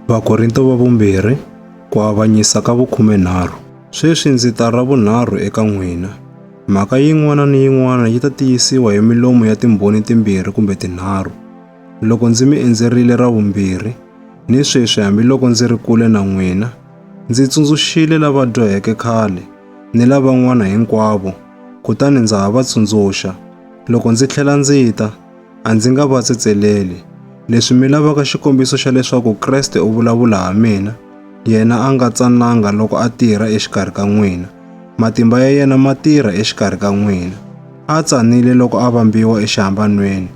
Vakorinto va vumbirhi, ku avanyisa ka vukhumenharhu. Sweswi ndzi ta ra vunharhu eka n'wina. Mhaka yin'wana ni yin'wana yi ta tiyisiwa hi milomu ya timbhoni timbirhi kumbe tinharhu. Loko ndzi mi endzerile ra vumbirhi, ni sweswi hambiloko ndzi ri kule na n'wina, ndzi tsundzuxile lava dyoheke khale ni lavan'wana hinkwavo, kutani ndza ha va tsundzuxa, loko ndzi tlhela ndzi ta, A ndzi nga va tsetseleli. Leswi mi lavaka xikombiso xa leswaku Kreste u vulavula ha mina, yena a nga tsananga loko a tirha exikarhi ka n'wina. Matimba ya yena ma tirha exikarhi ka n'wina. A tsanile loko a vambiwa exihambanweni,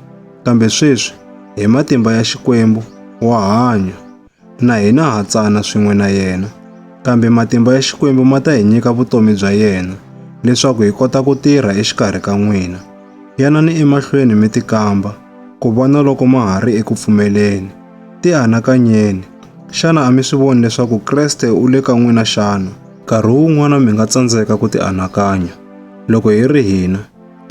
kambe sweswi, hi matimba ya Xikwembu, wa hanya. Na hina ha tsana swin'we na yena, kambe matimba ya Xikwembu ma ta hi nyika vutomi bya yena leswaku hi kota ku tirha exikarhi ka n'wina. Yanani emahlweni mi tikamba ku vona loko ma ha ri eku pfumeleni. Tianakanyeni, xana a mi swi voni leswaku Kreste u le ka n'wina xana? Nkarhi wun'wana mi nga tsandzeka ku tianakanya. Loko hi ri hina,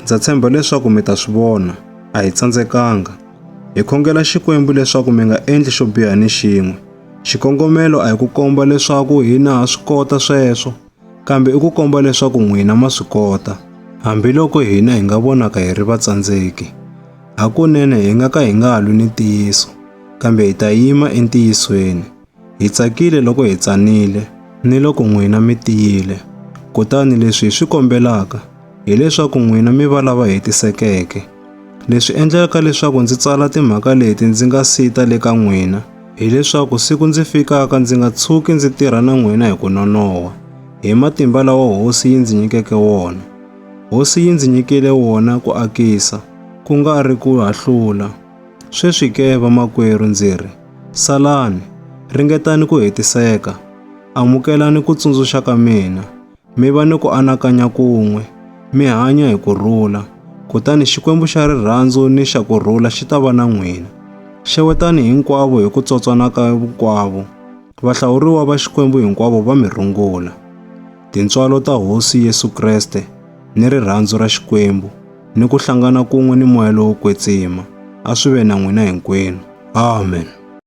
ndza tshemba leswaku mi ta swi vona, a hi tsandzekanga. Hi khongela Xikwembu leswaku mi nga endli xo biha ni xin'we. Xikongomelo a hi ku komba leswaku hina ha swi kota sweswo, kambe i ku komba leswaku n'wina ma swi kota, hambiloko hina hi nga vonaka hi ri vatsandzeki. Hakunene hi nga ka hi nga lwi ni ntiyiso, kambe hi ta yima entiyisweni. Hi tsakile loko hi tsanile ni loko n'wina mi tiyile. Kutani leswi hi swi kombelaka hileswaku n'wina mi va lava hetisekeke. Leswi endlaka leswaku ndzi tsala timhaka leti ndzi nga si ta le ka n'wina hileswaku siku ndzi fikaka ndzi nga tshuki ndzi tirha na n'wina hi ku nonoha, hi matimba lawa Hosi yi ndzi nyikeke wona. Hosi yi ndzi nyikile wona ku akisa, ku nga ri ku hahlula. Sweswi ke, vamakwerhu, ndzi ri, salani, ringetani ku hetiseka, amukelani ku tsundzuxa ka mina, mi va ni ku anakanya kun'we, mi hanya hi ku rhula, kutani Xikwembu xa rirhandzu ni xa ku rhula xi ta va na n'wina. Xewetani hinkwavo hi ku tsotswana ka hinkwavo. Vahlawuriwa va Xikwembu hinkwavo va mi rungula. Tintswalo ta Hosi Yesu Kreste ni rirhandzu ra Xikwembu ni ku hlangana kun'we ni moya lowo kwetsima a swi ve na n'wina hinkwenu. Amen.